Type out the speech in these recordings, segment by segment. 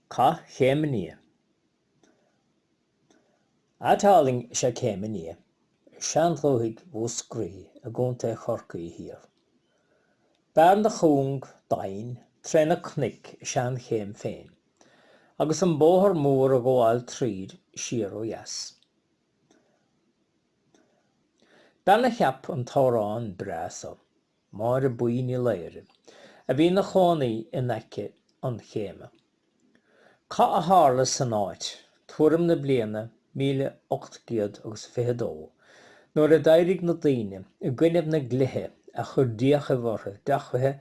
Cath Chéim an Fhia. Áit álainn is ea Céim an Fhia i seandúthaigh Mhúscraí i gContae Chorcaí thiar. Bearna chúng doimhin tré na cnoic is ea an Céim féin agus an bóthar mór ag gabháil tríd siar ó dheas. Bean a cheap an t-amhrán breá so. Máire Buí Ní Laoghaire, a bhí ina chónaí in aice an Chéime. Cath a tharla san áit, tuairim na bliana míle ocht gcéad agus a fiche dó, nuair a d'éirigh na daoine i gcoinnibh na ndlithe a chuir d'fhiachaibh orthu deachmhaithe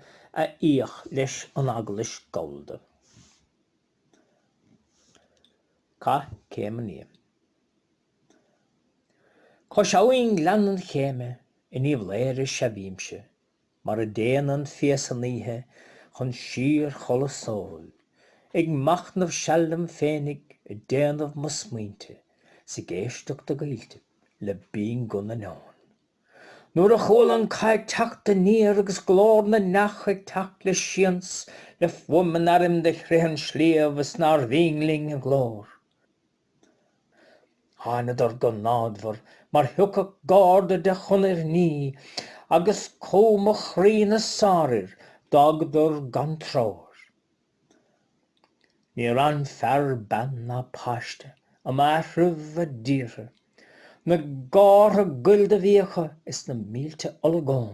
a íoc leis an Eaglais Gallda. Cath Chéim an Fhia. Cois abhainn Gleann an Chéime in Uíbh Laoghaire sea bhímse, mar a dtéann an fia san oíche chun síorchodladh sóil, ag machnamh seal liom féinig, ag déanamh mo smaointe, 's ag éisteacht i gcoillte le binnghuth na n-eon. Nuair a chuala an cath ag teacht aniar agus glór na n-each ag teacht le sians, le fuaim an airm do chrith an sliabh is nár bhinn linn a nglór, Thánadar go námhadmhar mar thiocfadh gárda de chonairt nimhe agus cumha mo chroí na sárfhir d'fhágadar gan treoir. Níor fhan fear, bean ná páiste um áitreabh a dtíortha, na gártha goil do bhí acu is na mílte olagón.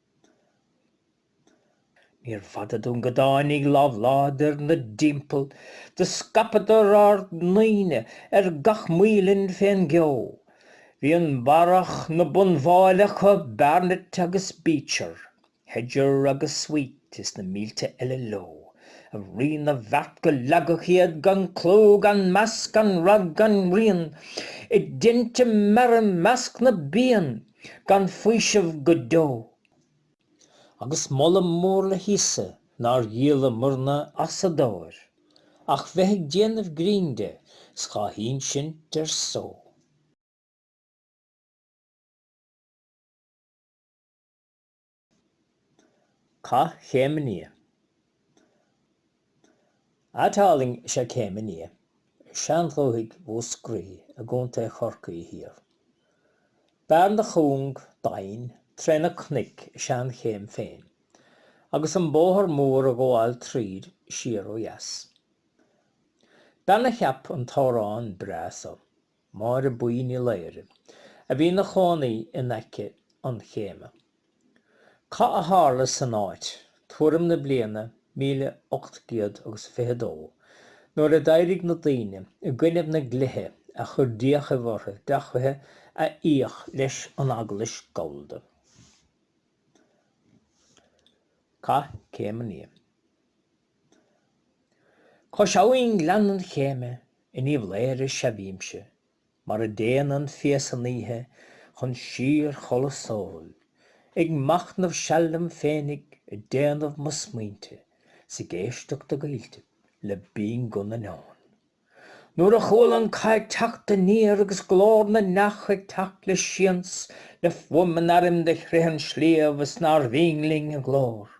Níorbh fhada dúinn go dtáinig lámh láidir inár dtimpeall do scaipeadar ár ndaoine ar gach maoilinn fén gceo. Bhí an Barrach ina bhunbháille acu, Barnett agus Beecher, Hedger agus Sweet is na mílte eile leo, a Rí na bhFeart go leagfadh iad gan clú gan meas gan rath gan rian i dtinte meara i measc na bpian. gan faoiseamh go deo. Agus moladh mór le hÍosa nár dhíolamairne as an dtóir, ach bheith ag déanamh grinn de 's dhá ínsint ar só. Cath Chéim an Fhia. Áit álainn is ea Céim an Fhia i seandúthaigh Mhúscraí i gContae Chorcaí thiar. Bearna chúng doimhin tré na cnoic is ea an Céim féin, agus an bóthar mór ag gabháil tríd siar ó dheas. Bean a cheap an t-amhrán breá so. Máire Buí Ní Laoghaire, a bhí ina chónaí in aice an Chéime. Cath a tharla san áit, tuairim na bliana míle ocht gcéad agus a fiche dó, nuair a d'éirigh na daoine i gcoinnibh na dlithe a chuir d'fhiachaibh orthu deachmhaithe a íoc leis an Eaglais Gallda. Cath Céim an Fhia. Cois abhainn Gleann an Chéime in Uíbh Laoghaire sea bhímse, mar a dtéann an fia san oíche chun síor-chodladh sóil, ag machnamh seal liom féinig, ag déanamh mo smaointe, 's ag éisteacht i gcoilltibh le binnghuth na n-eón. Nuair a chuala an cath ag teacht aniar agus glór na n-each ag teacht le sians le fuaim an airm do chrith an sliabh is nár bhinn linn a nglór,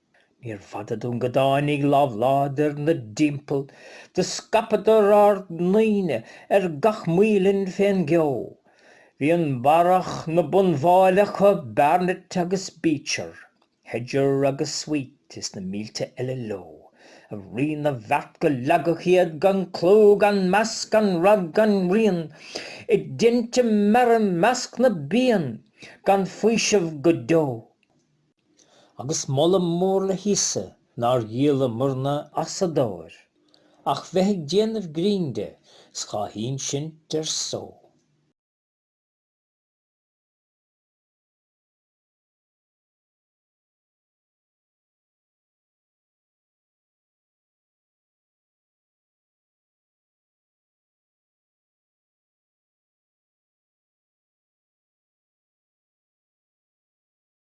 Níor fada dúinn go dtáinig lámh láidir 'nár dtimpeall do scaipeadar ár ndaoine ar gach maoilinn fén gceo. Bhí an Barrach 'na bhumbáille acu, Barnett agus Beecher, Hedger agus Sweet is na mílte eile leo, a Rí na bhFeart go leagfadh iad gan clú, gan meas, gan rath, gan rian, i dtinte meara i measc na bpian, gan faoiseamh go deo. Agus moladh mór le hÍosa nár dhíolamairne as an dtóir, ach bheith ag déanamh grinn de, 's dhá ínsint ar só.